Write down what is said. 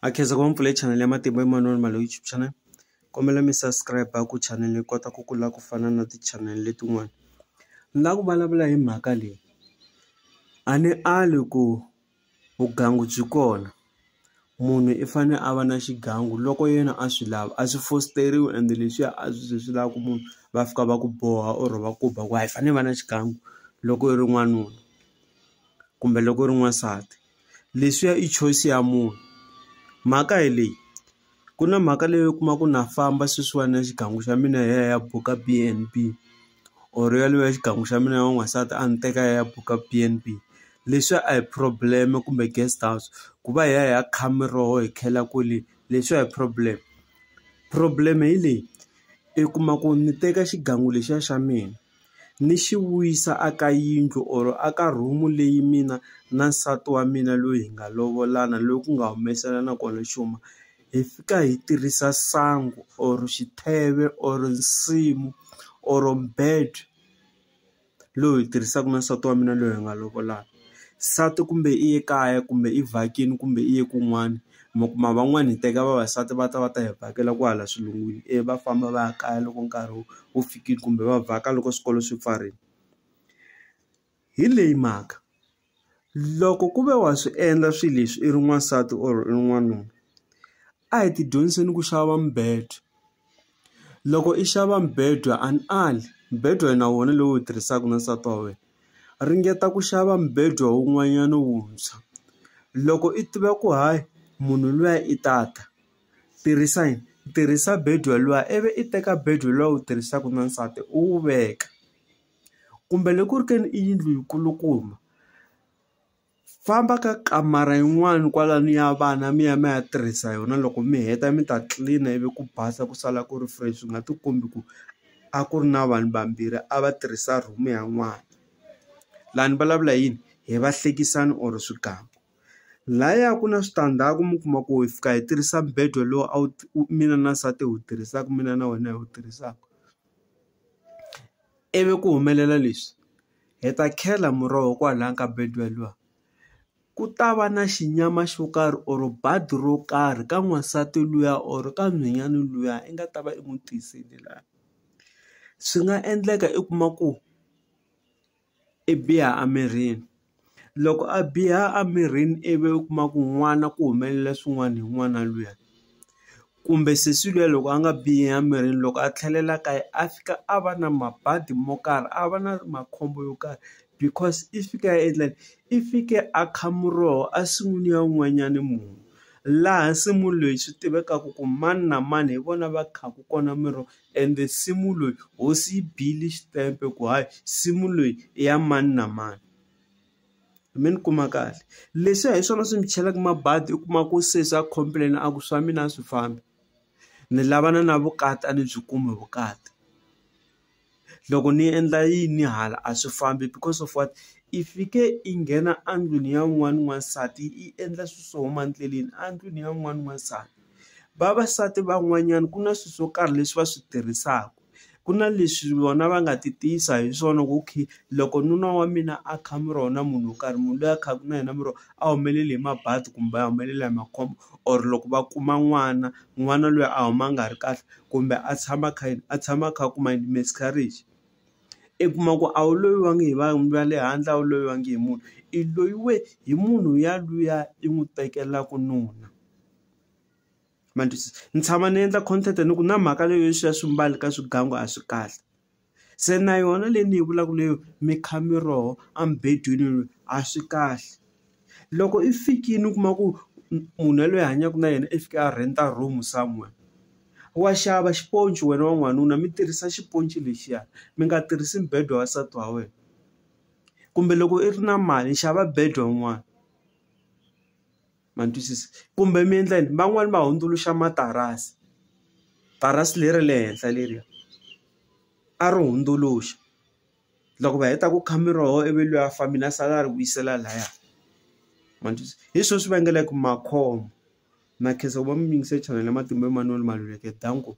Ha khensa ku va mi pfule channel ya Matimba Emmanuel Male YouTube channel kombela mi subscribe ku channel yi kota ku kula ku fana na ti channel letin'wana ni la ku vulavula hi mhaka leyi a ni ali ku vugangu byi kona munhu i fane a va na xigangu loko yena a swi lava a swi fositeriwi ende leswiya a swi ze swi lava ku munhu va fika va ku boha or va ku ba ku hayi i fane i va na xigangu loko i ri n'wanuna kumbe loko u ri n'wansati. leswiya i choice ya munhu mhaka hi leyi ku na mhaka leyi u kuma ku na famba sweswiwani ya xigangu xa mina hi ya hi ya buka B_N_B or yaleyo ya xigangu xa mina ya n'wansati a ni teka hi ya hi ya buka B_N_B leswiya a hi problem kumbe guest house ku va hi ya hi ya kha miroho hi khela kwele leswi a hi problem problem hi leyi i kuma ku ni teka xigangu lexiya xa mina ni xi vuyisa a ka yindlu or a ka room leyi mina na nsati wa mina loyi hi nga lovolana loyi ku nga humeselana kona xuma hi fika hi tirhisa sangu or xitheve or nsimu or bed lowu hi tirhisaka na nsati wa mina loyi hi nga lovolana. nsati kumbe i ye kaya kumbe i vhakile kumbe i ye kun'wana mi kuma van'wani hi teka vavasati va ta va ta hi vhakela kwahala xilungwini ivi va famba va ya kaya loko nkarhi wu fikile kumbe va vhaka loko swikolo swi pfarile hi leyi mhaka loko ku ve wa swi endla swilo leswi i ri n'wansati or i ri n'wanuna a hi ti dyondziseni ku xava mibedo. Loko i xava mubedwa a ni ali mubedwa wena wona lowu wu tirhisaka na nsati wa wena ringeta ku xava mubedwa wun'wanyana wuntshwa loko i tiva ku hayi munhu luya i ta ta tirhisa yini tirhisa bedi wa luwa ivi i teka bedi wa luwa wu tirhisaka na nsati u wu veka kumbe loko ku ri ka i yindlu yi kulukumba Famba ka kamara yin'wani kwalani ya vana mi ya mi ya tirhisa yona loko mi heta mi ta tlilina ivi ku basa ku sala ku ri fresh swi nga ti kombi ku a ku ri na vanhu vambirhi a va tirhisa room ya n'wana la ni vulavula hi yini hi va hlekisani or swigangu laya ku na switandzhaku mi kuma ku hi fika hi tirhisa mubedo lowu a wu mina na nsati hi wu tirhisaka mina na wena hi wu tirhisaka ivi ku humelela leswi. hi ta khela muroho kwalaya ka Betway luwa ku ta va na xinyama xo karhi or badi ro karhi ka n'wansati luya or ka nhwanyana luya i nga ta va i n'wi tisele la swi nga endleka i kuma ku i biha emirini. Loko a biha a mirini ivi u kuma ku n'wana ku humelela swin'wana hi n'wana luya kumbe sesi luya loko a nga bihi a mirini loko a tlhelela kaya a fika a va na mabadi mo karhi a va na makhombo yo karhi because i fike a endla yini i fike a kha muroho a nsin'wini ya wun'wanyani munhu laha nsimu leyi swi tivekaku ku mani na mani hi vona va khaku kona miroho ende nsimu loyi hosi yi bile xitempe ku hayi nsimu leyi i ya mani na mani. Me ni kuma kahle leswiya hi swona swi mi chelaka mabadi u kuma ku se swa complain a ku swa mina a swi fambi ni lavana na vukati a ni byi kumi vukati loko ni endla yini hala a swi fambi because of what i fike i nghena endlwini ya wun'wani n'wansati i endla swi swo huma endleleni endlwini ya wun'wani n'wansati vavasati van'wanyana ku na swi swo karhi leswi va swi tirhisaku. Ku na leswi vona va nga ti tiyisa hi swona ku okay loko nuna wa mina a kha mi rona munhu wo karhi munhu loyi a khaku na yena mi ro a humelele hi mabadi kumbe a humelela hi makhombo or loko va kuma n'wana n'wana loyi a huma a nga ri kahle kumbe a tshama a kha yini a tshama a kha a kuma yini miscarriage i kuma ku a wu loyiwangi hi vanhu va le handle a wu loyiwangi hi munhu i loyiwe hi munhu ya luya i n'wi tekelaka nuna. ma ni twisisa ni tshama ni endla content ni ku na mhaka leyi yo siya swimbalo ka swigangu a swi kahle se na yona leyi ni yi vulaka leyo mi kha mi roho a mubedweni a swi kahle loko i fikile u kuma ku munhu yaloye i hanyaka na yena i fika a rent room somewhere wa xava xiponci wena wa n'wanuna mi tirhisa xiponci lexiya mi nga tirhisi mbedo wa nsati wa wena kumbe loko i ri na mali xava bedi wa n'wana. ma ni twisisa kumbe mi endla yini van'wani va hundzuluxa matirasi tirasi leri le henhla leriya a ri hundzuluxa loko va heta ku kha miroho ivi luya a fambile a sala a ri vuyisela laya ma ni twisisa hi swo swi vangelaka makhombo na khensa ku va mi yingise channel ya Matimba Emanuel Maluleke danko.